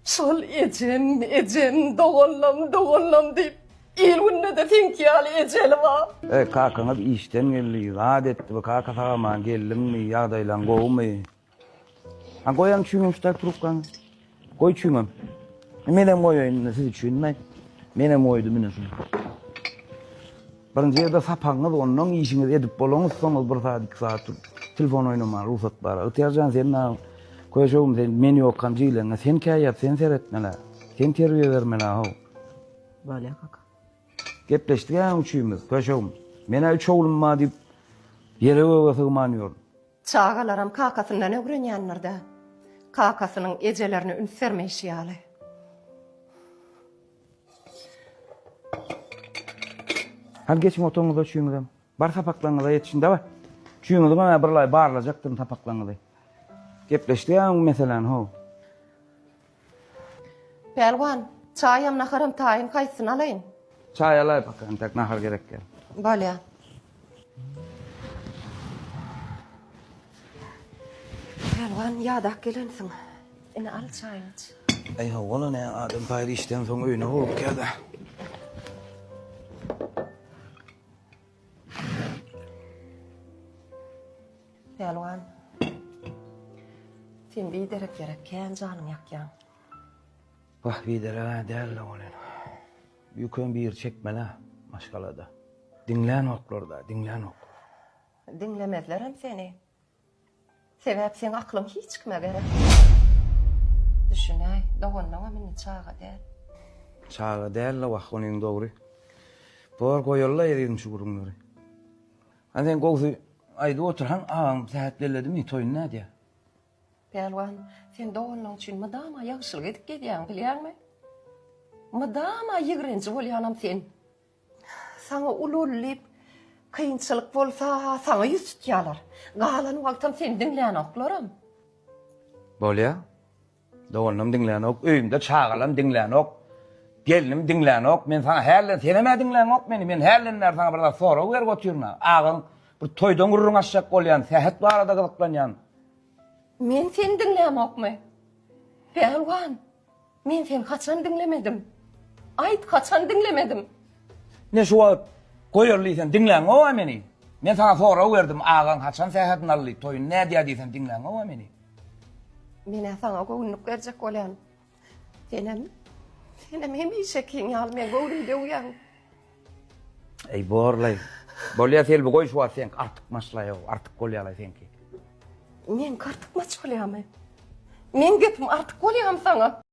Şol ejem, ejem, doganlam, doganlam diýip, il-günde-de seňki ýaly ejeli bar. Eý, kakaňyz işden geldi, zat etdi, bu kaka sag-aman geldiňmi, ýagdaýlaň gowumy? A goýaň çüýňem şu taýy trubkaňy. Goý çüýňem. Menem goýaýyn indi siz üçin, menem goýdum indi şuny. Birinji ýerde sapagyňyz onnoň işiňizi edip bolaňyz soňuz bir saat iki saat turup telefon oýnamaga rugsat bar agtyýar jan sen nagan köýşegim sen men ýokam jigileňe sen kä ýat sen seretmelä sen terbiýe bermelä how Bolýa kaka. Gepleşdik äň üçimiz köýşegim menä üç oglum bar diýip ýere göge sygman ýörün. Çagalaram kakasyndan ögrenýändirdä. Kakasynyň ejelerine üns bermeýşi ýaly. Hadi geçiň otagyňyza üçiňizem. Bar sapaklaryňyza ýetişiň daway. Üçiňiziň hem birlaý barlajakdyryn sapaklaryňyzy. Gepleşdik ýa bu meseläni how. Pälwan, çaýam naharam taýyn haýsysyny alaýyn? Çaý alaý paka entek nahar gerek däl. Bolýa. Pälwan, ýadap gelensiň. Ine, al çaýyňy iç. Äý hawa-la, nä, adam paýry işden soň öýüne howlukýar-da. Pälwan, sen biderek ýere kän janyňy ýakýaň. Wah, bidereg-ä däl-le ol ene. Ýüküň biri çekmelä maşgalada. Diňlänoklar-da, diňlänoklar. Diňlemezlerem seni. Sebäp seň aklyň hiç kime gerek däl. Düşünäý, doganlaňam indi çaga däl. Çaga däl-le wah, onuň dogry. Bor, goýaly-la ezizim şu gürrüňleri. Hany sen gowsy aýdyp otur, haň agaň sähet belledimi, toýuny nädýär? Pälwan, sen doganlaň üçin mydama ýagşylyk edip gezýäň, bilýäňmi? Mydama ýigrenji bolýanam sen. Saňa ul-ul diýip, kynçylyk bolsa, saňa ýüz tutýarlar. Galan wagtam seni diňlänoklar-am. Bolýa. Doganlam diňlänok, öýümde çagalam diňlänok, gelnim diňlänok. Men saňa hälden, senem-ä diňlänok meni. Men hälden bäri saňa bir zat sorag berip otyryn-a. Agaň Bir toýdan gürrüň açjak bolýan, sähet barada gyzyklanýan. Men seni diňlämokmy? Pälwan, men seni haçan diňlemedim? Aýt, haçan diňlemedim? Ne şu wagt goýarly diýsen, diňläňow-a meni? Men saňa sorag berdim, agaň haçan sähedini aldy, toýuny nädýär diýsen, diňläňow-a meni? Men-ä saňa göwünlik berjek bolýan. Senem, senem hemişekiň ýaly meň göwnümi döwýäň. Eý, borlaý. Bolýa, Selbi, goý şu wagt seňki artykmaçlaý-ow, artyk bolýa-laý seňki. Meňki artykmaç bolýamy? Meň gepim artyk bolýamy saňa?